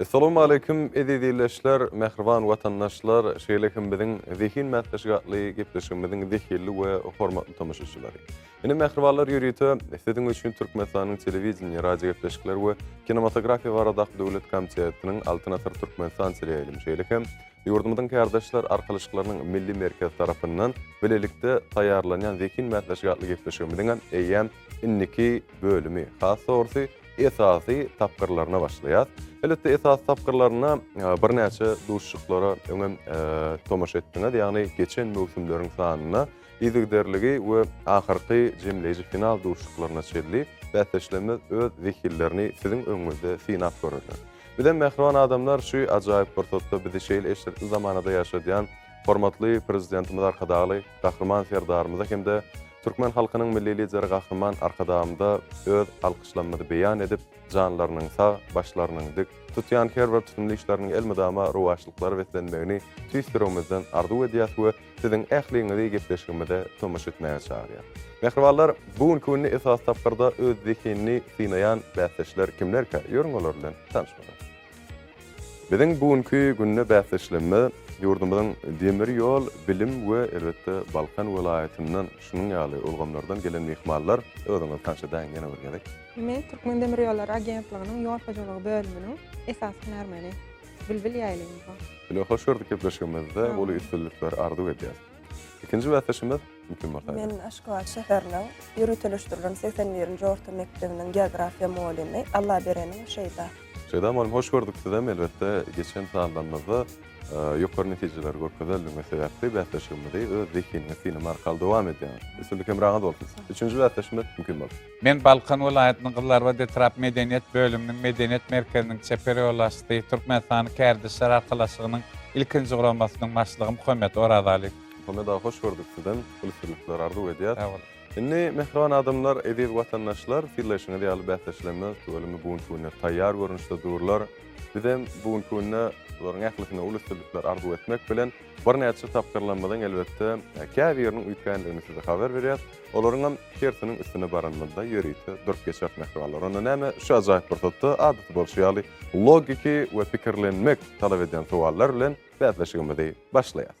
Essalawmaleýkim eziz ildeşler, mähriban watandaşlar, şeýle hem biziň zehin mäsleşigi atly gepleşigimiziň zehilli we hormatly tomaşaçylary. Ine, mähribanlar ýörite siziň üçin Türkmenistanyň Telewideniýe, radiogepleşikler we kinematografiýa baradaky döwlet komitetiniň Altyn asyr Türkmenistan teleýaýlym şeýle hem ýurdumyzyň kärdeşler arkalaşyklarynyň milli merkezi tarapyndan bilelikde taýýarlanýan zehin mäsleşigi atly gepleşigimiziňem eýýäm indiki bölümi, has dogrusy, esasy tapgyrlaryna başlaýas. Elbetde esasy tapgyrlaryna birnäçe duşuşyklara öňem tomaşa etdiňiz, ýagny geçen möwsümleriň sanyna yzygiderligi we ahyrky jemleýji final duşuşyklaryna çenli bäsdeşlerimiz öz zehinlerini siziň öňüňizde synap görerler. Bizem mähriban adamlar şu ajaýyp pursatda bizi şeýle eşretli zamanada ýaşadýan hormatly Prezidentimiz Arkadagly Gahryman Serdarymyza hem-de türkmen halkynyň Milli Lideri Gahryman Arkadagymyza öz alkyşlamymyzy beýan edip, janlarynyň sag, başlarynyň dik, tutýan her bir tutumly işleriniň elmydama rowaçlyklara beslenmegini tüýs ýüregimizden arzuw edýäs we siziň ähliňizi gepleşigimize tomaşa etmäge çagyrýas. Mähribanlar, bu günki günde esasy tapgyrda öz zehinini synaýan bäsdeşler kimlerkä? Ýörüň olar bilen tanyşmaga. Biziň bu günki günde bäsdeşlerimiz ýurdumyzyň demir ýol, bilim we elbetde Balkan welaýatyndan şunuň ýaly ulgamlardan gelen myhmanlar. Özüňizi tanyş edäýiň ýene bir gezek. Men Türkmendemirýollary agentliginiň ýol hojalygy bölüminiň esasy hünärmeni Bilbil Ýaýlyýewa. Ýene hoş gördük gepleşigimizde uly üstünlikler arzuw edýäs. Ikinji bäsdeşimiz kim bolsa? Men Aşgabat şäheriniň ýöriteleşdirilen segsen birinji orta mekdebiniň geografiýa mugallymy Allabereniň Şeýda. Şeýda mugallym hoş gördük sizem elbetde geçen sanlarymyzda ýokary netijeleri görkezeldigiňiz sebäpli bäsleşigimizi öz zehiniňiz synama arkaly dowam edýäňiz. Üstünlik hemraňyz bolsun. Üçünji bäsdeşimiz kim bolsa? Men Balkan welaýatynyň Gyzlarbat etrap medeniýet bölüminiň Medeniýet merkeziniň çeper ýolbaşçysy, Türkmenistanyň Kärdeşler arkalaşygynyň ilkinji guramasynyň başlygy Muhammet Orazalyýew. Muhammet aga hoş gördük sizem ünsürlikler arzuw edýäs. Sag boluň. Indi mähriban adamlar, eziz watandaşlar fillaýşyňyz ýaly bäsdeşlerimiz tüweleme bu günki günde taýýar görnüşde durlar. Bizem bu günki günde bularyň ählisine uly üstünlikler arzuw etmek bilen, Birnäçe tapgyrlarymyzyň elbetde, käbiriniň üýtgändigini size habar berýäs. Olaryňam hersiniň üstüne baranymyzda ýörite durup geçeris mähribanlar. Onda näme, şu ajaýyp pursatda adaty bolşy ýaly logiki we pikirlenmek talap edýän sowallar bilen bäsleşigimizi başlaýas.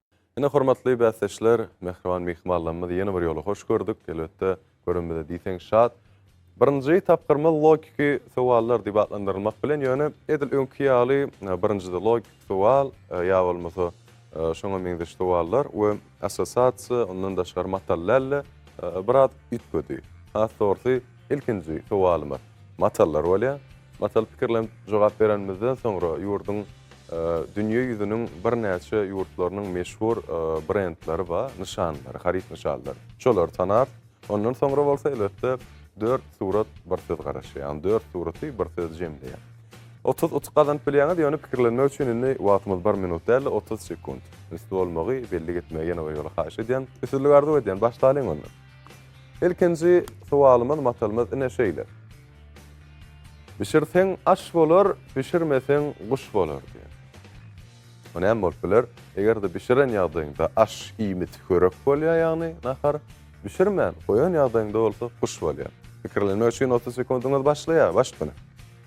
Ine, hormatly bäsdeşler, mähriban myhmanlarymyzy ýene bir ýola hoş gördük. Elbetde, görenimize diýseň şat. Birinji tapgyrymyz logiki sowallar diýip atlandyrylmak bilen, ýöne edil öňki ýaly birinjide logiki sowal ýa bolmasa şoňa meňzeş sowallar we assosiasiýa, ondan daşgary matal däl-de biraz üýtgedi. Has dogrusy, ilkinji sowalymyz. Matallar bolýar. Matal pikirlenip jogap berenimizden soňra ýurduň dünýe ýüzüniň birnäçe ýurtlarynyň meşhur brendleri bar, nyşanlary, haryt nyşanlary. Şolary tanarys. Ondan soňra bolsa elbetde dört surat bir söz garaşýar. Ýagny dört suraty bir söz jemleýär. Otuz utuk gazanyp bilýäňiz, ýöne pikirlenmek üçin indi wagtymyz bir minut däl-de otuz sekunt. Üns bolmagy, bellik etmegi ýene bir ýola haýyş edýän. Üstünlik arzuw edýän. Başlalyň onda. Ilkinji sowalymyz matalymyz ine şeýle. Bişirseň aş bolar, bişirmeseň guş bolar diýen. Bu näme bolup biler? Eger-de bişiren ýagdaýyňda aş, iýmit, hörek bolýar, ýagny nahar, bişirmän goýan ýagdaýyňda bolsa guş bolýar. Pikirlenmek üçin otuz sekundyňyz başlaýar, başt ine.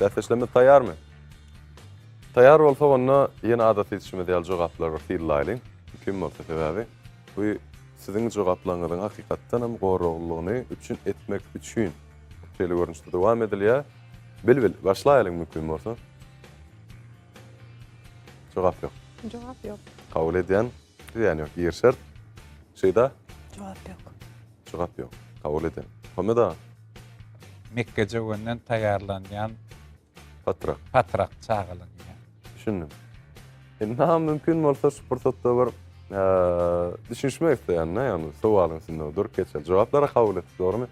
Bäsleşlemiz taýýarmy? Taýýar bolsak onda ýene adaty işimiz ýaly jogaplary bir syzlaýlyň. Kim bolsa sebäbi bu siziň jogaplaryňyzyň hakykatdan hem goraglylygyny üpjün etmek üçin şeýle görnüşde dowam edilýär. Bilbil başlaýlyň mümkin bolsa. Jogap ýok. Jogap ýok. Kabul edýän. Zyýany ýok, girişer. Şyda? Jogap ýok. Jogap ýok. Kabul edýän. Pomidor? Mekge jöwenden taýýarlanýan. Patrak. Patrak çagalanýar. Düşündim. Indi-ha mümkin bolsa şu pursatda bir düşünişmek isleýän-de, ýagny sowalyň üstünde durup geçeli. Jogaplar-a kabul etdik, dogrumy?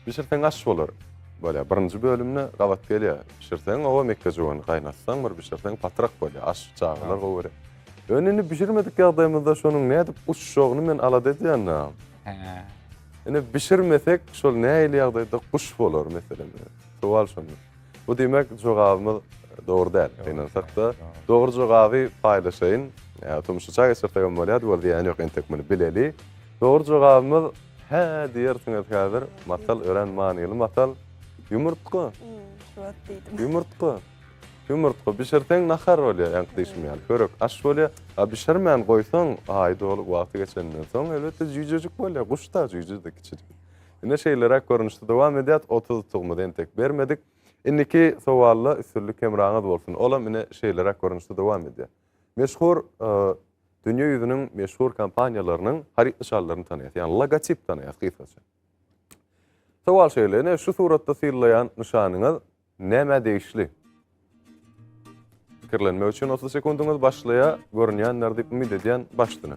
Bişirseň aş bolar. Bolýar. Birinji bölümde gabat gelýär. Bişirseň oba mekgejöwen, gaýnatsaň bir bişirseň patrak bolýar. Aş çagalar gowy görýär. Ýöne indi bişirmedik ýagdaýymyzda şonuň nädip uçjagyny men alada edýän-ä. Hä. Indi bişirmesek şol nähili ýagdaýda guş bolar meselem. Sowal şonda. Bu diýmek jogabymyz dogry däl. Gynansak-da dogry jogaby paýlaşaýyn. Ýa tumşuça geçirsegem bolýar, ýöne zyýany ýok entek muny bileli. Dogry jogabymyz. Hä diýersiňiz häzir, masal örän manyly masal. Ýumurtga. Şuwagt diýdim. Ýumurtga. Ýumurtga bişirseň nahar bolýar, ýaňky diýşim ýaly, çörek, aş bolýar. A bişirmän goýsaň, aýy dolup, wagty geçenden soň, elbetde, jüýjejik bolýar. Guş-da jüýje-de, kiçijik. Ine, şeýleräk görnüşde dowam edýär. Otuz utugymyzy entek bermedik. Indiki sowalda üstünlik hemraňyz bolsun. Olam ine şeýleräk görnüşde dowam edýär. Meşhur dünýä ýüzüniň meşhur kompaniýalarynyň haryt nyşanlaryny tanaýas, ýagny logotip tanaýas gysgaça. Sowal şeýle, ine şu suratda syllaýan nyşanyňyz nämä degişli? Pikirlenmek üçin 30 sekundyňyz başlaýar, görünýändir diýip umyt edýän başdyny.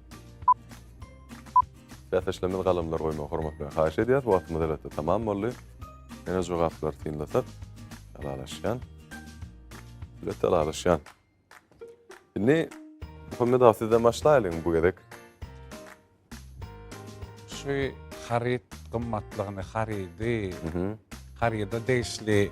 Bäsdeşlerimiz galamlar goýmagy hormat bilen haýyş edýäris. Wagtymyz elbetde tamam boldy. Ýene jogaplary synlasak, alalaşýan. Elbetde alalaşýan. Indi Muhammed aga sizden başlaýalyň bu gezek. Şu haryt gymmatlygyny, harydy, haryda degişli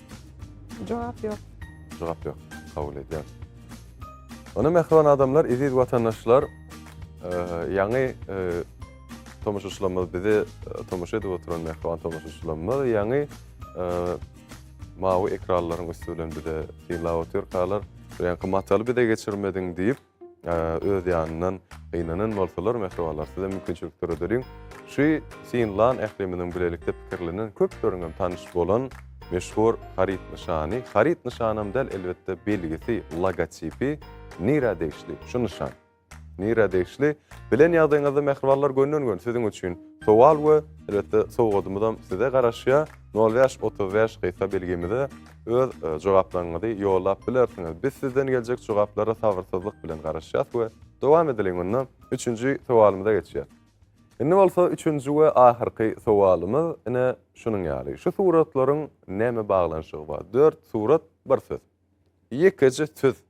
Jogap ýok. Jogap ýok. Kabul edýän. Ony mähriban adamlar, eziz watandaşlar, ýaňy tomaşaçylarymyz bizi tomaşa edip oturan mähriban tomaşaçylarymyz ýaňy mawy ekranlaryň üsti bilen bize synlap otyrkalar, ýaňky mataly bize geçirmediň diýip, Öz ýanyndan gynanan bolsalar, mähribanlar, siz hem mümkinçilik döredeliň. Şu Sin Lan ählimiziň bilelikde pikirlenen, köpleriň hem tanyş bolan meşhur haryt nyşany, haryt nyşany hem däl, elbetde, belgisi, logotipi nirä degişli şu nyşan? Nirä degişli? Bilen ýagdaýyňyzda, mähribanlar, gönden-göni siziň üçin sowal we, elbetde, sowgadymyz hem size garaşýar. Nol bäş, otuz bäş gysga belgimize. öz jogaplaryňyzy ýollap bilersiňiz. Biz sizden geljek jogaplara sabyrsyzlyk bilen garaşýas we dowam edeliň onda üçünji sowalymyza geçýäs. Indi bolsa üçünji we ahyrky sowalymyz ine şunuň ýaly. Şu suratlaryň näme baglanyşygy bar? Dört surat, bir söz. Ýekeje söz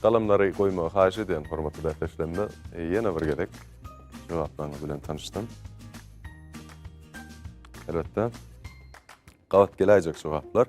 Galamlary goýmagy haýyş edýän hormatly bäsdeşlerime ýene bir gezek jogaplaryňyz bilen tanyşdym. Elbetde gabat geläýjek jogaplar.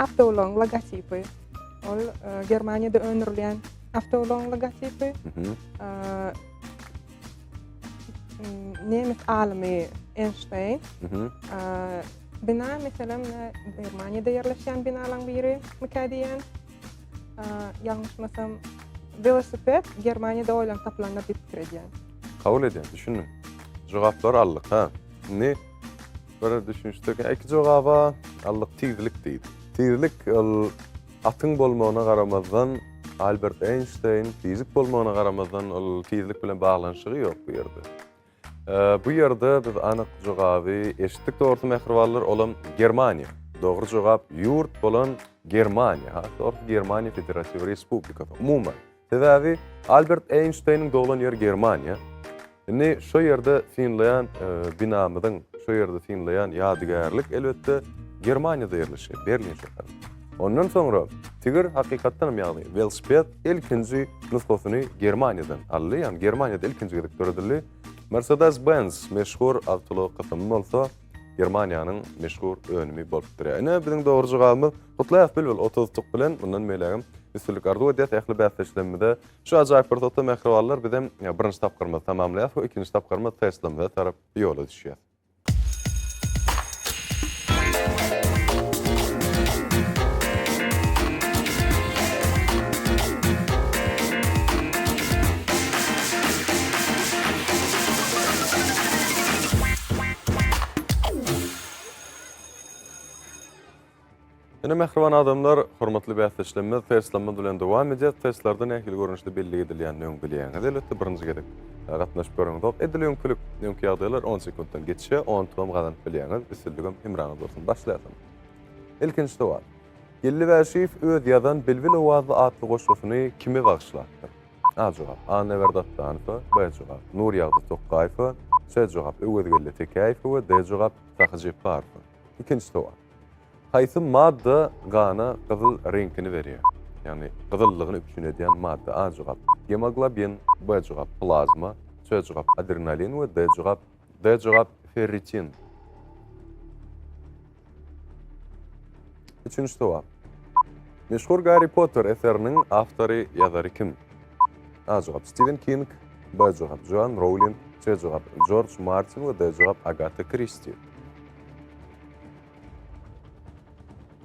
Awtoulagyň logotipi. Ol Germaniýada öndürilýän awtoulagyň logotipi. Nemes alymy Einstein. Bina meselem Germaniýada ýerleşýän binalaryň biri mikä diýýän. Ýalňyşmasam velosiped Germaniýada oýlanyp tapylandyr diýip pikir edýän. Kabul edýän, düşündim. Jogaplar aldyk, ha. Indi Bir düşünişdirken iki jogaba allyk tizlik diýdi. Tizlik ol atyň bolmagyna garamazdan Albert Einstein fizik bolmagyna garamazdan ol tizlik bilen baglanyşygy ýok bu ýerde. Bu ýerde biz anyk jogaby eşitdik dogrusu mähribanlar olam Germaniýa. Dogry jogap ýurt bolan Germaniýa. Hakyky Germaniýa Federatiw Respublikasy umuman. Sebäbi Albert Eýnşteýniň doglan ýeri Germaniýa. Indi şu ýerde synlaýan binamyzyň, şu ýerde synlaýan ýadygärlik elbetde Germaniýada ýerleşýär, Berlin şäheri. Ondan soňra tigir hakykatdan hem ýagny welosiped ilkinji nusgasyny Germaniýadan aldy, ýagny Germaniýada ilkinji gezek döredildi. Mercedes-Benz meşhur awtoulag gysymy bolsa Germaniýanyň meşhur önümi bolup durýar. Ine biziň dogry jogabymyz Gutlaýas Bilbil otuz utuk bilen mundan beýlägem üstünlik arzuw edýäs ähli bäsdeşlerimize. Şu ajaýyp pursatda mähribanlar bizem birinji tapgyrymyzy tamamlaýas we ikinji tapgyrymyz Teslamyza tarap ýola düşýäs. Ine mähriban adamlar, hormatly bäsdeşlerimiz, teslamyz bilen dowam edýär. Teslarda nähili görnüşde bellik edilýänini öň bilýäňiz. Elbetde birinji gezek e, gatnaşyp göreňizok. Edil öňkülik, öňki ýagdaýlar 10 sekuntdan geçýär. Ontuňam gazanyp bilýäňiz. Üstünligim hemraňyz bolsun. Başlaýasym. Ilkinji sowal. Geldi Bäşiýew öz ýazan Bilbil owazly atly goşgusyny kime bagyşlapdyr? A jogap. Annaberdi Atdanowa, B jogap. Nurýagdy Tokgaýewa, C jogap. Öwezgeldi Tekäýewe we D jogap. Sahy Jepbarowa. Ikinji sowal. Haýsy madda gana gyzyl reňkini berýär? Ýagny gyzyllygyny üpjün edýän madda A jogap, gemoglobin, B jogap, plazma, C jogap, adrenalin we D jogap, D jogap, ferritin. Üçünji sowal. Meşhur Garri Potter eseriniň awtory, ýazary kim? A jogap, Stiwen King, B jogap, Joan Rowling, C jogap, Jorj Martin we D jogap, Agata Kristi.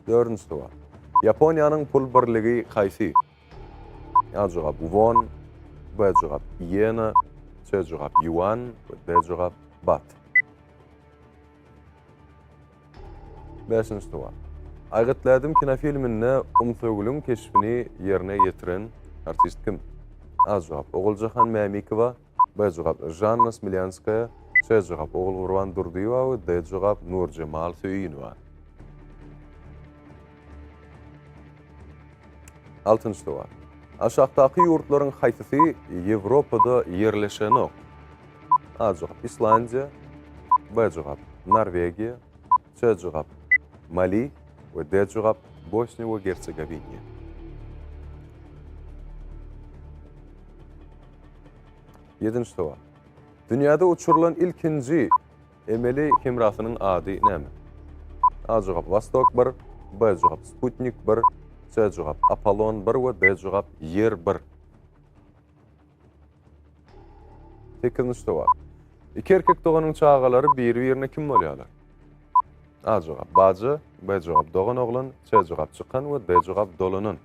Dördünji suwal. Ýaponiýanyň pul birligi haýsy? A jogap won, B jogap ýena, C jogap ýuan we D jogap bat. Beşinji suwal. Aýgyt Lädim kinofilminde Umsögüliň keşbini ýerine ýetiren artist kim? A jogap Oguljahan Mämikowa, B jogap, Žanna Smilýanskaýa. C jogap, Ogulgurban Durdyýewa we D jogap, Nurjemal Söýünowa. Altynjy sowal. Aşakdaky ýurtlaryň haýsysy Ýewropada ýerleşenok? A jogap, Islandiýa. B jogap, Norwegiýa. Çjugap, Mali, we Djugap, Bosniýa we Gersegowiniýa. Ýedinji sowal. Dünýäde uçurylan ilkinji emeli hemrasynyň ady näme? A jogap Wostok 1, B jogap Sputnik 1, C jogap Apollon 1 we D jogap Ýer 1. Sekizinji sowal. Iki erkek doganyň çagalary biri-birine kim bolýarlar? A jogap bajy, B jogap dogan oglan, C jogap çykan we D jogap dolanan.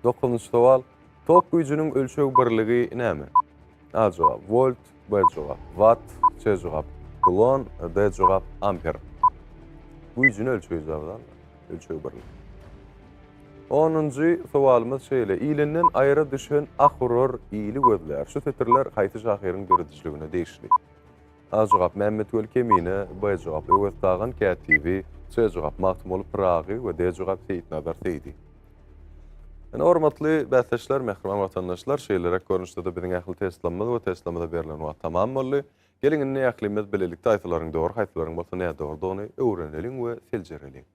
Dokuzynjy sowal. Tok güýjüniň ölçeg birligi näme? A jogap, Volt, B jogap, Watt, C jogap, Kulon, D jogap, Amper. Güýjüni ölçeýijiň agzal, ölçeg birligi. Onunjy sowalymyz şeýle, Ilinden aýra düşen ah urar, ili gözlär. Şu setirler haýsy şahyryň döredijiligine degişli? A jogap, Mämmetweli Kemine, B jogap, Öwez Dagan kätibi, C jogap, Magtymguly Pyragy we D jogap, Seýitnazar Seýdi. Ine, hormatly bäsdeşler, mähriban watandaşlar, şeýleräk görnüşde-de biziň ähli testlamymyz we testlamada berlen wagt tamam boldy. Geliň, indi ählimiz bilelikde haýsylaryň dogry, haýsylaryň bolsa nädogrudygyny öwreneliň we seljereliň.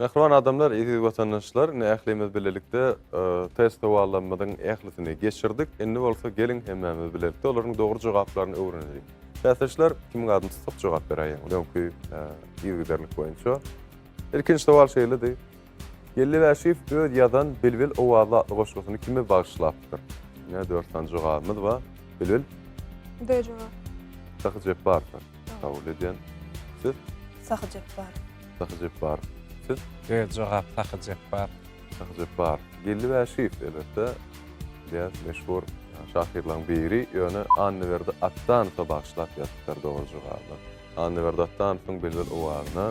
Mähriban adamlar, eziz watandaşlar, indi ählimiz bilelikde test sowallarymyzyň ählisini geçirdik. Indi bolsa geliň hemmämiz bilelikde olaryň dogry jogaplaryny öwreneliň. Bäsdeşler, kimiň adyny tutsak jogap beräýeň, öňki yzygiderlik boýunça. Ilkinji sowal şeýledi. Geldi Bäşiýew öz ýazan Bilbil owazy atly goşgusyny kime bagyşlapdyr? Ine dört sany jogabymyz bar. Bilbil. B jogaby. Sahy Jepbarowa kabul edýän. Siz? Sahy Jepbarow. Sahy Jepbarow. Siz? Öz jogap Sahy Jepbarow. Sahy Jepbarow. Geldi Wäşiýew, elbetde, diýýäs, meşhur şahyrlaryň biri, ýöne Annaberdi Atdanowa bagyşlap ýazypdyr dogry jogaby. Annaberdi Atdanowyň Bilbil owazyna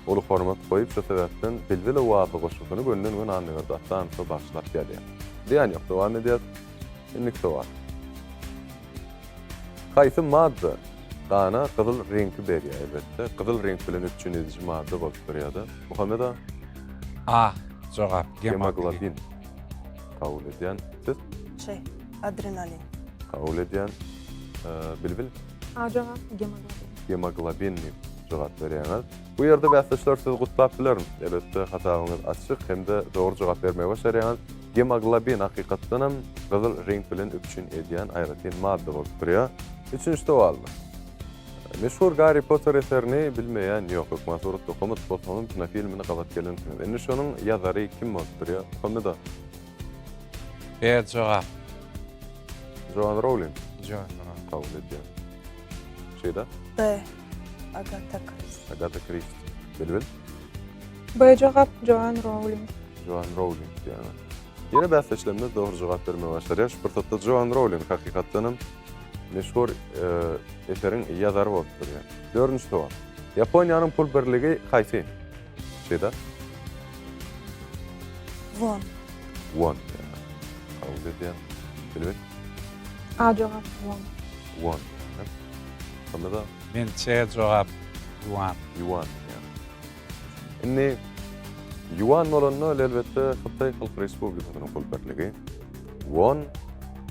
uly hormat goýup, şu sebäpden Bilbil owazly goşgusyny gönden-göni Annaberdi Atdanowa bagyşlap ýazýar. Zyýan ýok, dowam edýäs. Indiki sowal. Haýsy madda Gana gyzyl reňki berýär, elbetde. Gyzyl reňk bilen üpjün ediji madda bolup durýar-da. Muhammet aga? A. Jogap, gemoglobin. Gemoglobin. Kabul edýän. Siz? C. Adrenalin. Kabul edýän. Bilbil? A jogap, gemoglobin. Gemoglobin diýip jogap berýäňiz. Bu ýerde bäsdeşler sizi gutlap bilerin. Elbetde hasabyňyz açyk hem-de dogry jogap bermegi başarýaňyz. Gemoglobin hakykatdanam gyzyl reňk bilen üpjün edýän aýratyn madda bolup durýar. Üçünji sowalymyz. Meşhur Garri Potter eserini bilmeýän ýok. Hökman suratda okamat bolsaňyzam kinofilmini gabat gelensiňiz. Indi şonuň ýazary kim bolup durýar? Pomidor. B jogap. Joan Rowling. Joan Rowling. Kabul edýän. Şeýda. B. Agata Kristi. Agata Kristi. Bilbil. B jogap Joan Rowling. Joan Rowling diýýärler. Ýene bäsdeşlerimiz dogry jogap bermegi başarýar. Şu pursatda Joan Rowling hakykatdan hem meşhur eseriň ýazary bolup durýar. Dördünji sowal. Ýaponiýanyň pul birligi haýsy? Şeýda. Won. Won. Kabul edýän. Bilbil. A jogap Ýuan. Ýuan diýýäňiz. Şonda-da. Men C jogap Ýuan. Ýuan diýýäňiz. Indi Ýuan bolanda ol elbetde Hytaý Halk Respublikasynyň pul birligi, Won,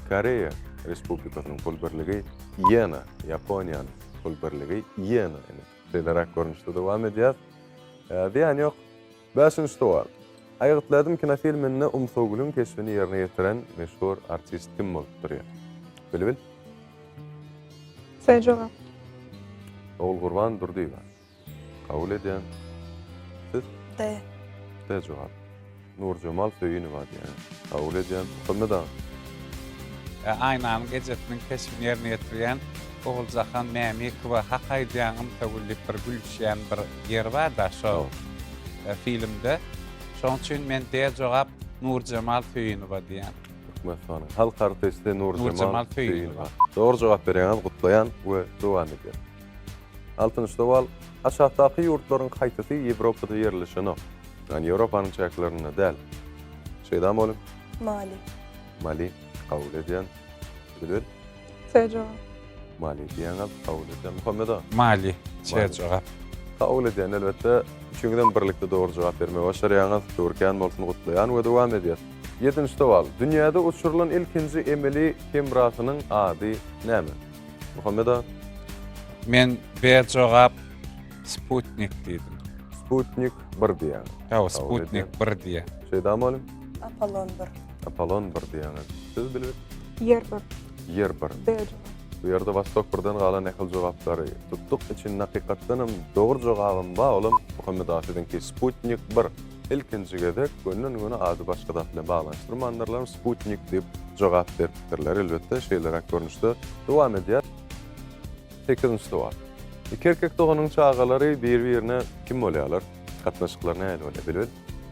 Koreýa Respublikasynyň pul birligi, Ýena, Ýaponiýanyň pul birligi, Ýena ine. Şeýleräk görnüşde dowam edýäs. Zyýany ýok. Bäşinji sowal. Aýgytlaýdym kinofilminde Umsugülüň keşbini ýerine ýetiren meşhur artist kim bolup durýar? Bilbil. Sen jogap. Ogulgurban Durdyýewa. Kabul edýän. Siz? D. D jogap. Nurjemal Söýünowa diýýän. Kabul edýän. Muhammet aga. E. Aýnanyň ejesiniň keşbini ýerine ýetirýän Oguljahan Mämikowa hak aýdýaň Umsugül diýip bir gülüşýän bir ýeri bar-da şol filmde. Şoň üçin men D jogap Nurjemal Söýünowa diýýän. Türkmenistanyň halk artisti Nurjemal Söýünowa. Dogry jogap berýäňiz, gutlaýan we dowam edýän. Altynjy sowal, Aşakdaky ýurtlaryň haýsysy Ýewropada ýerleşenok? Ýagny Ýewropanyň çäklerinde däl. Şeýdam boluň. Mali. Mali kabul edýän. Düzül. Serjogap. Maliýe diýýäňem kabul edýän Muhammeda. Maliýe, serjogap. Kabul edýän elbetde. Üçüňizem birlikde dogry jogap bermegi başarýaňyz. Töwirkän bolsun gutlaýan we dowam edýäs. Ýedinji sowal. Dünýäde uçurylan ilkinji emeli hemrasynyň ady näme? Muhammeda. Men berjogap Sputnik diýdim. Sputnik bir diýýäňiz. Hawa, Sputnik bir diýýän. Şeýda mugallym. Apollon bir. Apollon bir diýýäňiz. Siz bilip? Ýer bir. Ýer bir. B jogap. Bu ýerde Wostok birden galan nähili jogaplary tutduk. Içinde hakykatdan hem dogry jogabym bar, olam Muhammet A siziňki Sputnik bir. Ilkinji gezek gönden-göni ady başga zat bilen baglanyşdyrmandyrlar, Sputnik diýip jogap beripdirler. Elbetde, şeýleräk görnüşde dowam edýär. Sekizinji sowal. Iki erkek doganyň çagalary bir-birine kim bolýarlar? Gatnaşyklary nähili bolýar? Bilbil.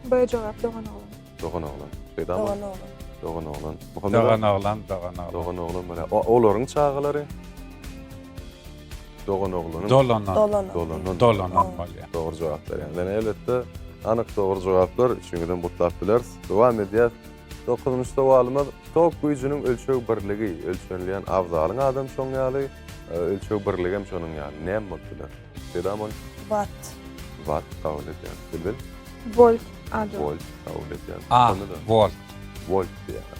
B jogap dogan oglan. Dogan oglan. Peýdamy? Dogan oglan. Dogan oglan. Muhammet Dogan oglan, dogan oglan. Dogan oglan bolýar. O olaryň çagalary. Dogan oglanyň. Dolanan. Dolanan. Dolanan. Dolanan bolýar. Dogry jogap berýän. Ýöne elbetde anyk dogry jogaplar üçiňizem gutlap bileris. Dowam edýär. Dokuzynjy sowalymyz tok güýjüniň ölçeg birligi, ölçenilýän abzalyň adam şoň ýaly, ölçeg birligem şonuň ýaly. Näme bolup biler? Peda bol. Watt. Watt kabul edýän. Bilbil. Volt. Ado. Volt kabul edýän. A. Volt. Volt diýýär.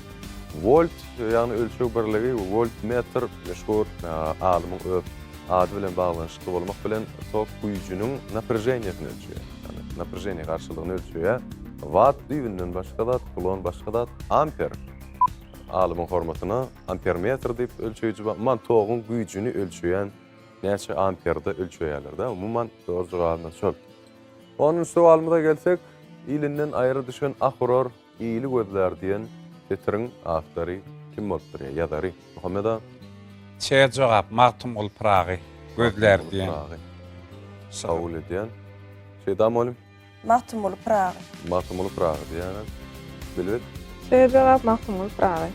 Volt, ýagny ölçeg birligi, voltmetr, meşhur alymyň öz ady bilen baglanyşykly bolmak bilen, tok güýjüniň naprejeniýesini ölçeýär. Ýagny naprejeniýe garşylygyny ölçeýär. Watt düýbünden başga zat, kulon başga zat. Amper, alymyň hormatyna ampermetr diýip ölçeýji bar. Umuman toguň güýjüni ölçeýän. Näçe amperde ölçeýärler-dä umuman soz jogabyna şol. Onunjy sowalymyza gelsek, Ilinden aýry düşen ah urar, ili gözlär diýen setiriň awtory kim bolupdyr ýa ýazary? Muhammet aga. Çer jogap, Magtymguly Pyragy gözlär diýen. Kabul edýän. Şeýda mugallym. Magtymguly Pyragy. Magtymguly Pyragy diýýäňiz. Bilbil? Söz jogap Magtymguly Pyragy.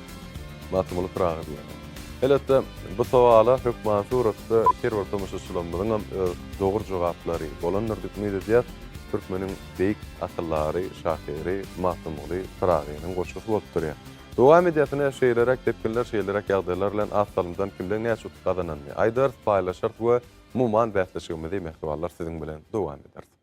Magtymguly Pyragy diýýäňiz. Elbetde, bu sowala hökman suratda her bir tomaşaçylarymyzyň hem öz dogry jogaplary bolandyr diýip umyt edýäs. Türkmeniň beýik akyldary, şahyry Magtymguly Pyragynyň goşgusy bolup durýar. Dowam edýäs ine şeýleräk depginler, şeýleräk ýagdaýlar bilen az salymdan kimleň näçe utuk gazananyny aýdarys, paýlaşarys we umuman bäsleşigimizi mähribanlar siziň bilen dowam ederis.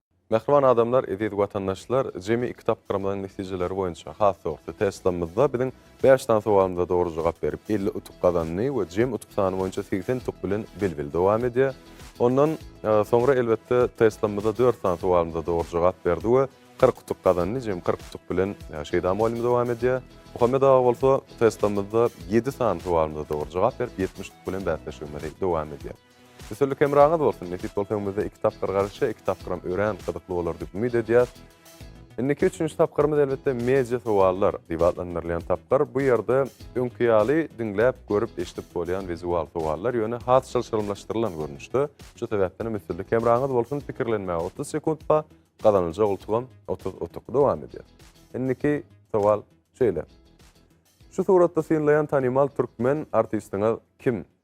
Mähriban adamlar, eziz watandaşlar, jemi iki tapgyrymyzyň netijeleri boýunça, has dogrusy, teslamyzda biziň bäş sany sowalymyza dogry jogap berip, elli utuk gazandy we jem utuk sany boýunça segsen utuk bilen bil-bil dowam edýär. Ondan soňra, elbetde, teslamyzda dört sany sowalymyza dogry jogap berdi we kyrk utuk gazandy, jem kyrk utuk bilen Şeýda mugallym dowam edýär. Muhammet aga bolsa, teslamyzda ýedi sany sowalymyza dogry jogap berip, ýetmiş utuk bilen bäsleşigimizi dowam edýär. Üstünlik hemraňyz bolsun! Nesip bolsa öňümizde iki tapgyr galyşýar, iki tapgyram örän gyzykly bolar diýip umyt edýäs. Indiki üçünji tapgyrymyz elbetde media sowallar diýip atlandyrylýan tapgyr. Bu ýerde öňki ýaly diňläp, görüp, eşidip bolýan wizual sowallar, ýöne has çylşyrymlaşdyrylan görnüşde. Şu sebäpdenem üstünlik hemraňyz bolsun! Pikirlenmäge otuz sekunt bar, gazanyljak utugam otuz utuk. Dowam edýäs. Indiki sowal şeýle. Şu suratda synlaýan tanymal türkmen artistiňiz kim?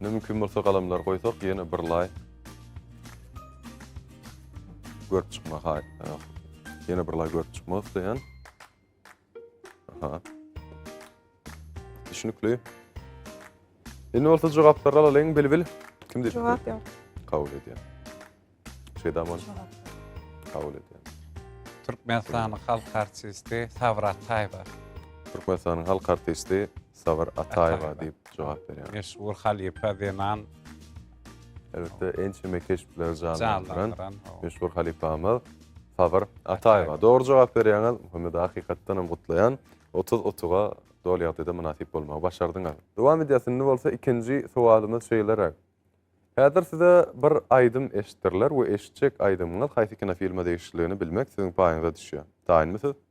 Ne mümkin bolsa galamlar goýsak ýene bir lay. Görüp çykma hay. Ýene bir lay görüp çykmak isleýän. Aha. Düşünükli. Indi bolsa jogaplar alalyň bilbil. Kim diýip? Jogap ýok. Kabul edýär. Şeýdaman. Kabul edýär. Türkmenistanyň halk artisti Sabir Ataýewa. Türkmenistanyň halk artisti Sabir Ataýewa diýip jogap berýär. Meşhur halypa zenan Elbetde ençeme keşpleri janlandyran meşhur halypamyz Sabyr Ataýewa. Dogry jogap berýäňiz. Muhammed hakykatdan hem gutlaýan. 30 utuga doly ýagdaýda mynasyp bolmagy başardyňyz. Dowam edýäs. Indi bolsa ikinji sowalymyz şeýleräk. Häzir size bir aýdym eşitdirler we eşitjek aýdymyňyz haýsy kinofilme degişliligini bilmek siziň paýyňyza düşýär. Taýynmy siz?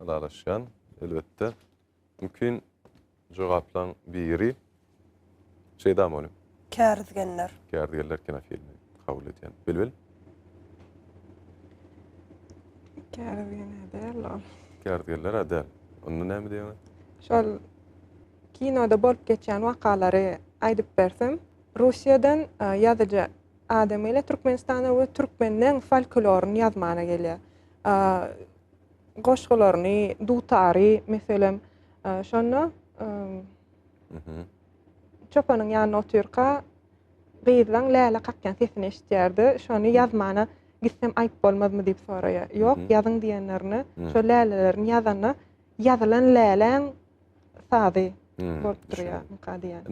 ylalaşýan, elbetde, mümkin jogaplaň biri Şeýda Molim. Kärizgenler. Kärizgenler kinofilmi kabul edýän. Bilbil. Kärizgenler däl ol. Kärizgenler a däl. Onda näme diýýäňiz? Şol kinoda bolup geçýän wakalary aýdyp bersem, Russiýadan ýazyjy adam gelýär Türkmenistana we türkmenleň folkloryny ýazmana gelýär. goşgularyny, dutary, meselem, şonda çopanyň ýanynda otyrka gyzlaň läle kakýan sesini eşitýärdi. Şony ýazmana gitsem aýp bolmazmy diýip soraýar. Ýok, ýazyň diýenlerine, şo lälelerini ýazanda ýazylan läläň sazy bolup durýar.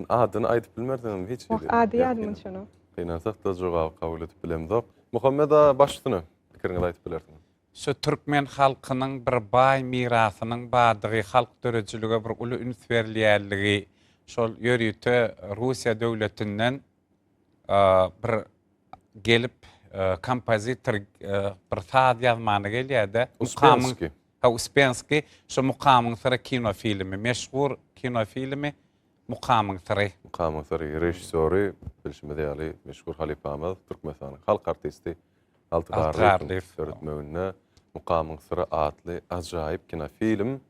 Adyny aýdyp bilmersiňizmi hiç? Ady ýadymda şonuň. Gynansak-da jogaby kabul edip bilemzok. Muhammet aga, başsyna. pikiriňizi aýdyp bilersiňiz. Şu türkmen halkynyň bir baý mirasynyň bardygy, halk döredijilige bir uly üns berilýänligi, şol ýörite Russiýa döwletinden bir gelip kompozitor bir saz ýazmana gelýärde. Uspenski. Ha, Uspenski. Şu Mukamyň syry kino filmi, meşhur kino filmi Mukamyň syry. Mukamyň syry režissýory bilşimiz ýaly meşhur halypamyz Türkmenistanyň halk artisti Alty garlyň döretmeginde Mukamyň syry atly ajaýyp kinofilm.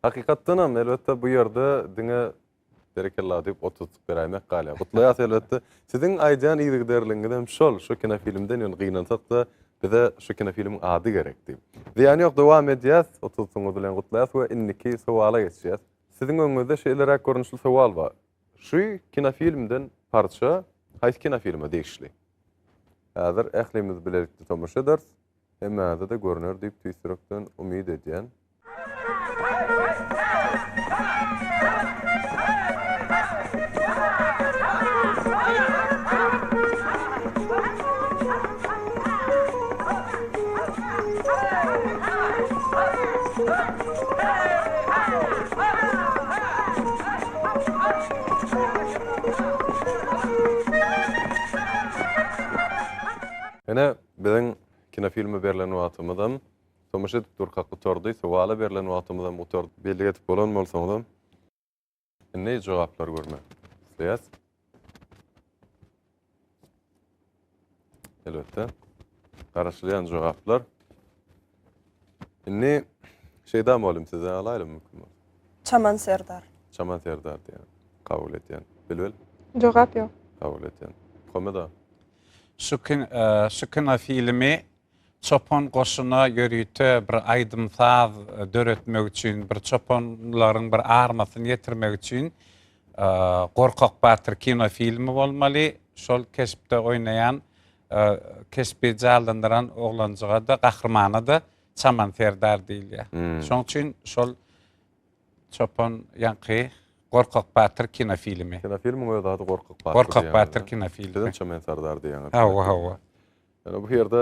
Hakykatdanam, elbetde, bu ýerde diňe berekella diýip ot tutup beräýmek galýar. Gutlaýas, elbetde. Siziň aýdýan yzygiderligiňizem şol. Şu kinofilmden ýöne gynansak-da, bize şu kinofilmiň ady gerek diýip. Zyýany ýok, dowam edýäs. Ot tutuňyz bilen gutlaýas we indiki sowala geçýäs. Siziň öňüňizde şeýleräk görnüşli sowal bar. Şu kinofilmden parça haýsy kinofilme degişli? Häzir ählimiz bilelikde tomaşa ederis. Hemmäňize-de görner diýip tüýs ýürekden umyt edýän. Ine, biziň kinofilme berlen wagtymyzam tomaşa edip durkak gutardy, sowala berlen wagtymyzam gutardy. Bellik edip bolan bolsaňyzam, indi jogaplary görmek isleýäs. Elbetde. Garaşylýan jogaplar. Indi şeyda molim size alaýlym mümkin bolsa. Çaman Serdar. Çaman Serdar diýen. Kabul edýän. Bilbil. Jogap ýok. Kabul edýän. Komeda. Şu kin, e, şu kino filmi Çopan goşuna ýörite bir aýdym-saz döretmek üçin, bir çopanlaryň bir armasyny ýetirmek üçin Gorkak batyr kino filmi bolmaly. Şol keşpde oýnaýan, keşbi jallandyran oglanjyga-da, gahrymana-da Çaman serdar diýilýär. Şoň üçin şol Çopan ýaňky Gorkak batyr kino filmi. Kino filmiň öz ady Gorkak batyr diýen. Gorkak batyr kino filmi. Siziň Çaman serdar diýeniňiz. Hawa, hawa. Ýöne bu ýerde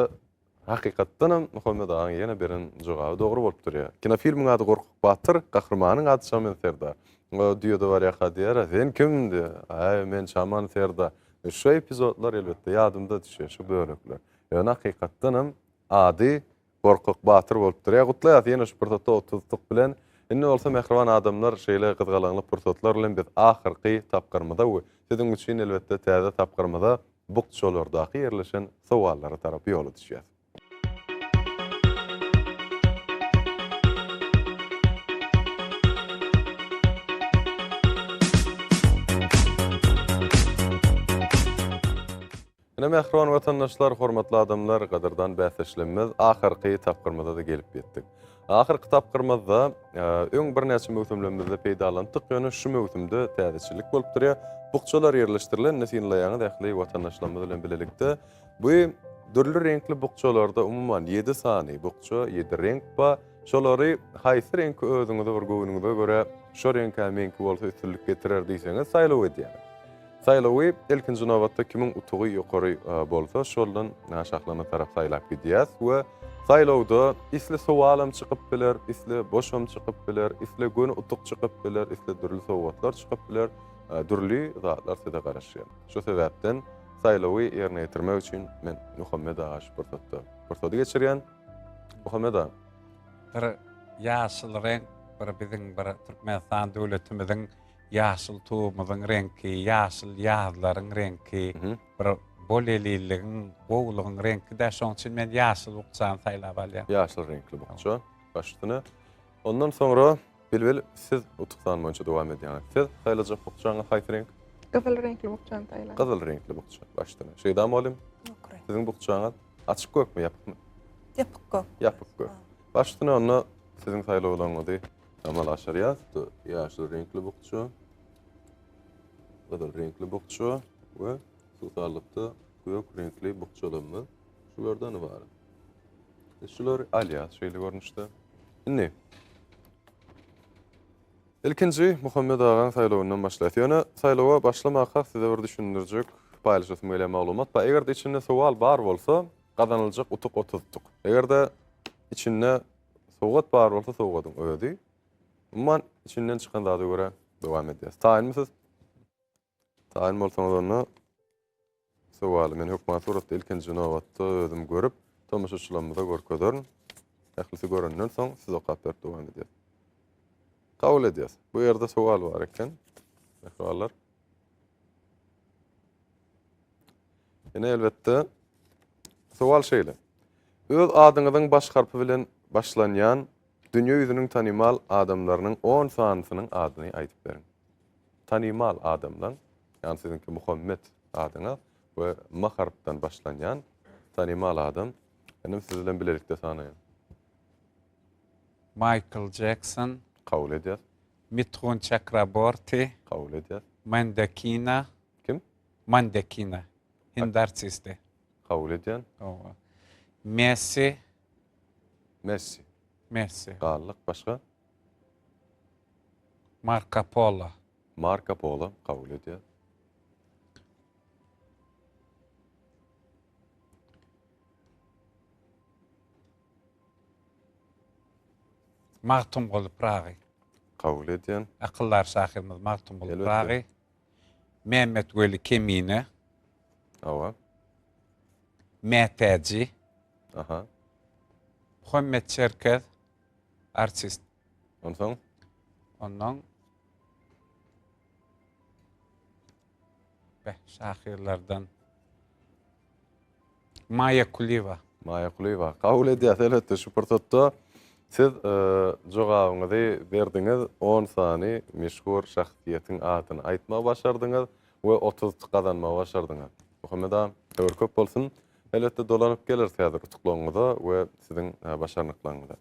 hakykatdan hem Muhammet agaň ýene beren jogaby dogry bolup durýar. Kinofilmiň ady Gorkak batyr, gahrymanyň ady Çamen serdar. Oňa düýede barýaka diýýärä, Sen kim? diýýär. Äý, men Çaman serdar. Şu epizodlar elbetde ýadyňda düşýär, şu bölekler. Ýöne hakykatdan hem ady Gorkak batyr bolup durýar. Gutlaýas ýene şu pursatda otuz tuk bilen. Indi bolsa mähriban adamlar şeýle gyzgalaňly pursatlar bilen biz ahyrky tapgyrymyza we siziň üçin elbetde täze tapgyrymyza bukjalardaky ýerleşen sowallara tarap ýola düşýäs. Ine, mähriban watandaşlar, hormatly adamlar, gadyrdan bäsdeşlemmiz ahyrky tapgyrymyza-da gelip ýetdik. Ahyrky tapgyrymyzda öň birnäçe möwsümlemizde peýdalandyk, ýöne şu möwsümde täzeçillik bolup durýar. Bukjalar ýerleşdirilen, indi synlaýaňyz ähli watandaşlarymyz bilen bilelikde. Bu dürli reňkli bukjalarda umuman ýedi sany bukja, ýedi reňk bar. Şolary haýsy reňki özüňize bir göwnüňize görä şo reňkä meňki bolsa üstünlik getirer diýseňiz saýlaw edýär. Saýlawy ilkinji nobatda kimiň utugy ýokary bolsa şoldan şahlana tarap saýlap gidýäs we saýlawda isle sowalam çykyp biler, isle boşam çykyp biler, isle göni utuk çykyp biler, isle dürli sowgatlar çykyp biler, dürli zatlar size garaşýar. Şo sebäpden saýlawy ýerine ýetirmek üçin men Muhammet aga şu pursatda pursady geçirýän. Muhammed aga. Bir ýaşyl reňk, bir biziň bir Türkmenistan döwletimiziň ýaşyl tugumyzyň reňki, ýaşyl ýazlaryň reňki, bir bolelilligiň, gowulygyň reňki-dä. Şoň üçin men ýaşyl bukjany saýlap alýan. Ýaşyl reňkli bukja baş üstüne. Ondan soňra Bilbil siz utukdan boýunça dowam edýäňiz. Siz saýlajak bukjaňyz haýsy reňk? Gyzyl reňkli bukjany saýlan. Gyzyl reňkli bukja baş üstüne. Şeýda mugallym. Siziň bukjaňyz? Açyk gökmi, ýapykmy? Ýapyk gök. Ýapyk gök. Baş üstüne onda siziň saýlawlaryňyzy amal aşyrýas. Ýaşyl reňkli bukja, gyzyl reňkli bukja we suwsarlykda gök reňkli bukjalarymyz şulardan ibarat. Biz şulary alýas şeýle görnüşde. Indi Ilkinji, Muhammet agaň saýlawyndan başlaýas. Ýöne saýlawa başlamakak size bir düşündirjek, paýlaşasym gelýän maglumat bar. Eger-de içinde sowal bar bolsa, gazanyljak utuk otuz utuk. Eger-de içinde sowgat bar bolsa, sowgadyň özi. Umuman, içinden çykan zada görä dowam edýäs. Taýynmy siz? Taýyn bolsaňyz onda sowaly men hökman suratda ilkinji nobatda özüm görüp, tomaşaçylarymyza görkezerin. Ählisi görenden soň siz okap berip dowam edýär. Kabul edýäs. Bu ýerde sowal bar eken. Mähribanlar. Ýene elbetde sowal şeýle. Öz adyňyzyň baş harpy bilen başlanýan Dünýe ýüzüniň tanymal adamlarynyň on sanysynyň adyny aýdyp beriň. Tanymal adamlaň, ýagny siziňki Muhammet adyňa we ma harpdan başlanýan tanymal adam, inim siz bilen bilelikde sanaýan. Maýkl Jekson. Kabul edýäs. Mithun Çakraborti. Kabul edýäs. Mandakina. Kim? Mandakina. Hindi artisti. Kabul edýän. Messi. Messi. Messi. Galdyk başga. Marko Polo. Marko Polo kabul edýär. Magtymguly Pyragy. Kabul edýän. Akyldar şahyrymyz Magtymguly Pyragy. Mämmetweli Kemine. Hawa. Mätäji. Aha. Muhammet Çerkez. Artist. Onsoň? Ondan Beh, şahyrlardan. Maýa Kulyýewa. Maýa Kulyýewa. Kabul edýäs, elbetde, şu pursatda siz jogabyňyzy berdiňiz, on sany meşhur şahsyýetiň adyny aýtmagy başardyňyz we otuz t gazanmagy başardyňyz. Muhammet aga, höwür köp bolsun. Elbetde, dolanyp geleris häzir utuklaryňyza we siziň başarnyklaryňyza.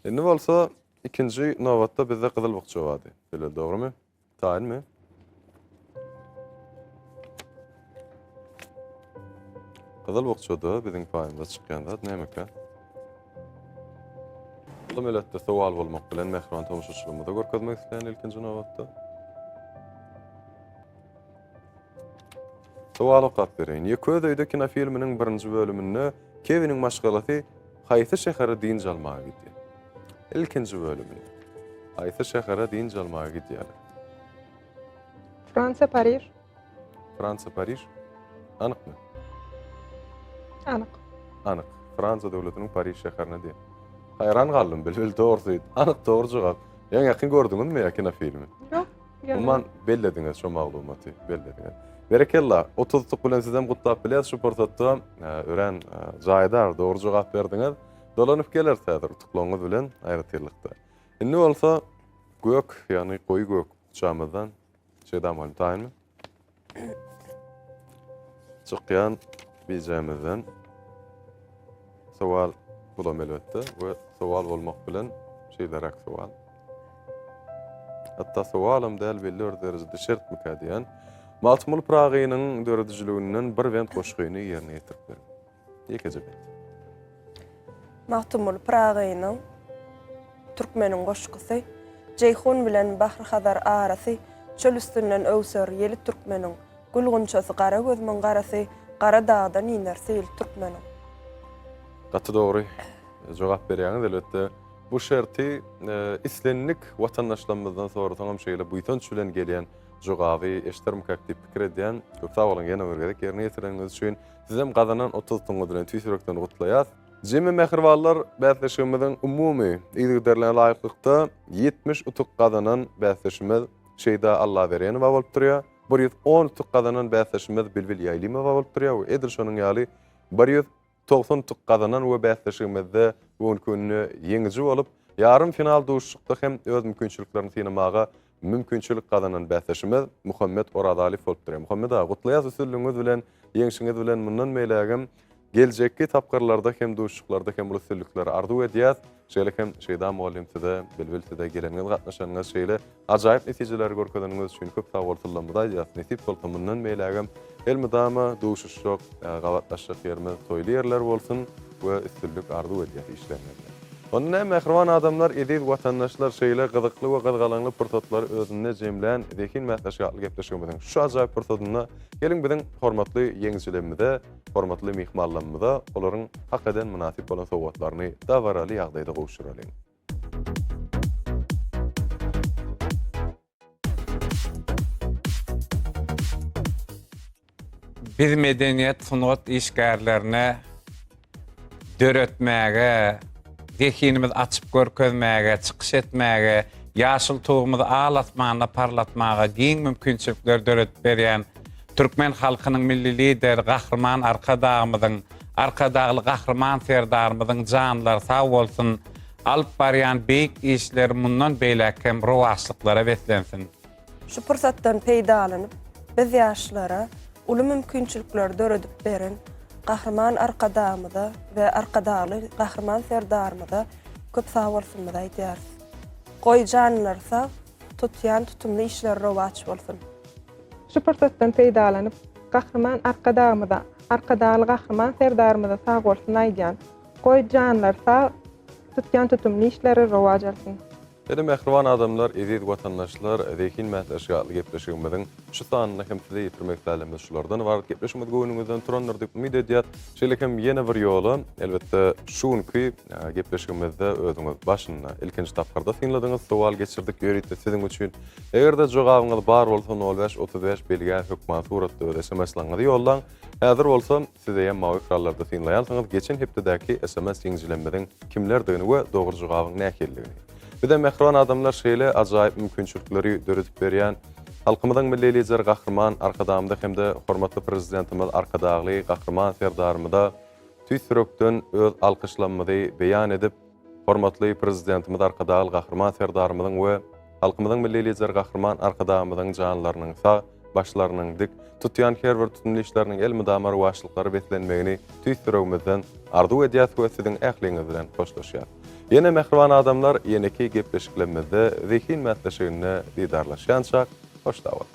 Indi bolsa ikinji nobatda bizde gyzyl bukja bardy. Şeýle, dogrumy? Taýyn mi? Gyzyl bukjada biziň paýymyza çykýan zat nämeka? Bu meletde sowal bolmak bilen mähriban tomaşaçylygymyza görkezmek isleýän ilkinji nobatda. Sowal okap bereýin. Ýeköz öýde kinofilminiň birinji bölüminde Kewiniň maşgalasy haýsy şähere dynç almaga gidýär? Ilkinji bölümini. Haýsy şähere dynç almaga gidýärler? Fransiýa, Pariž. Fransiýa, Pariž. Anykmy? Anyk. Anyk. Fransiýa döwletiniň Pariž şäherine diýip. Haýran galdym, bilbil dogrusu. Anyk dogry jogap. Ýaňy ýakyn gördüňizmi ýa kinofilmi? Ýok. Umuman bellediňiz şu maglumaty, bellediňiz. Berekella, otuzlyk bilen sizem gutlap bileris şu pursatda. Örän jaýdar, dogry jogap berdiňiz. Dolanyp geleris häzir utuklaryňyz bilen aýratynlykda. Indi bolsa gök, ýagny goýy gök uçamyzdan Şedam Halmytaýyny. Çykýan bijämizden sowal bulam elbetde we sowal bolmak bilen şeýleräk sowal. Hatda sowalam däl belli bir derejede şert mikä diýen. Magtymguly Pyragynyň döredijiliginden bir bent goşgyny ýerine ýetirip beriň. Ýekeje bet. Magtymguly Pyragynyň Türkmeniň goşgusy, Jeýhun bilen Bahry-Hazar arasy, Çöl üstünden öwser ýeli türkmeniň, Gül gunçasy gara gözümiň garasy, Gara dagdan iner seýil türkmeniň. Gaty dogry jogap berýäňiz. Elbetde, bu şerti islendik watandaşlarymyzdan sorasaňam şeýle buýsanç bilen gelýän jogaby eşidermikak diýip pikir edýän. Köp sag boluň ýene bir gezek ýerine ýetireniňiz üçin. Sizem gazanan otuz tuňňuzy bilen tüýs ýürekden gutlaýas. Jemi mähribanlar bäsleşigimiziň umumy yzygiderligine laýyklykda ýetmiş utuk gazanan bäsdeşimiz Şeýda Allaberenowa bolup durýar, bir ýüz on utuk gazanan bäsdeşimiz Bilbil Ýaýlymowa bolup durýar we edil şonuň ýaly bir ýüz togsan utuk gazanan we bäsleşigimizde bu günki günde ýeňiji bolup, ýarym final duşuşykda hem öz mümkinçiliklerini synamaga mümkinçilik gazanan bäsdeşimiz Muhammet Orazaliýew bolupdyr. Muhammet aga, gutlaýas üstünligiňiz bilen, ýeňşiňiz bilen mundan beýlägem geljekki tapgyrlarda hem duşuşyklarda hem uly üstünlikleri arzuw edýäs. Şeýle hem Şeýda mugallym size, Bilbil size geleniňiz, gatnaşanyňyz, şeýle ajaýyp netijeleri görkezeniňiz üçin köp sag boluň, tyllamyzy aýdýas. Nesip bolsa mundan beýlägem Elmydama duşuşjak, gabatlaşjak ýerimiz toýly ýerler bolsun we üstünlik arzuw edýäs işleriňizde. Onda näme mähriban adamlar, eziz watandaşlar şeýle gyzykly we gyzgalaňly pursatlary özünde jemlän zehin mäsleşigi atly gepleşigimiziň şu ajaýyp pursadynda geliň biziň hormatly ýeňijilemimize, hormatly myhmallamyza olaryň hak eden mynasyp bolan sowgatlaryny dabaraly ýagdaýda gowşuralyň. Biz medeniýet, sungat işgärlerine döretmäge, zehinimizi açyp görkezmäge, çykyş etmäge, ýaşyl Tugumyzy al asmanda parlatmaga giň mümkinçilikleri döredip berýän türkmen halkynyň Milli Lideri Gahryman Arkadagymyzyň, Arkadagly Gahryman Serdarymyzyň janlary sag bolsun! Alyp barýan beýik işleri mundan beýläk hem rowaçlyklara beslensin! Şu pursatdan peýdalanyp, biz ýaşlara uly mümkinçilikleri döredip beren Gahryman Arkadagymyza we Arkadagly Gahryman Serdarymyza köp sagbolsunymyzy aýdýarys. Goý, janlary sag, tutýan tutumly işleri rowaç bolsun! Şu pursatdan peýdalanyp, Gahryman Arkadagymyza, Arkadagly Gahryman Serdarymyza sagbolsun aýdýan, Goý janlar sag, tutýan tutumly işleri rowaç alsyn! Ene mähriban adamlar, eziz watandaşlar, zehin mätäçligi atly gepleşigimiziň şu sanynda hem sizi ýetirmek pälemiz şulardan ybarat. Gepleşigimiz göwnüňizden turandyr diýip umyt edýär. Şeýle hem ýene bir ýola, elbetde, şu günki gepleşigimizde özüňiz başynda, ilkinji tapgyrda synladyňyz, sowal geçirdik ýörite siziň üçin. Eger-de jogabyňyz bar bolsa, nol bäş otuz bäş belgä hökman suratda öz sms-laňňyzy ýollaň. Häzir bolsa, Siz eýýäm mawy ekrallarda synlaýansyňyz geçen hepdedäki sms ýeňijilemiziň kimlerdigini we dogry jogabyň nähilidigini. Bize mähriban adamlar şeýle ajaýyp mümkinçilikleri döredip berýän Halkymyzyň Milli Lideri Gahryman Arkadagymyza hem-de hormatly Prezidentimiz Arkadagly Gahryman Serdarymyza tüýs ýürekden öz alkyşlamymyzy beýan edip, Hormatly Prezidentimiz Arkadagly Gahryman Serdarymyzyň we halkymyzyň Milli Lideri Gahryman Arkadagymyzyň janlarynyň sag, başlarynyň dik, tutýan her bir tutumly işleriniň elmydama rowaçlyklara beslenmegini tüýs ýüregimizden arzuw edýäs we siziň ähliňiz bilen hoşlaşýas. Ýene mähriban adamlar ýeneki gepleşiklemizde zehin mätleşiginde didarlaşýançak, hoş sag bol!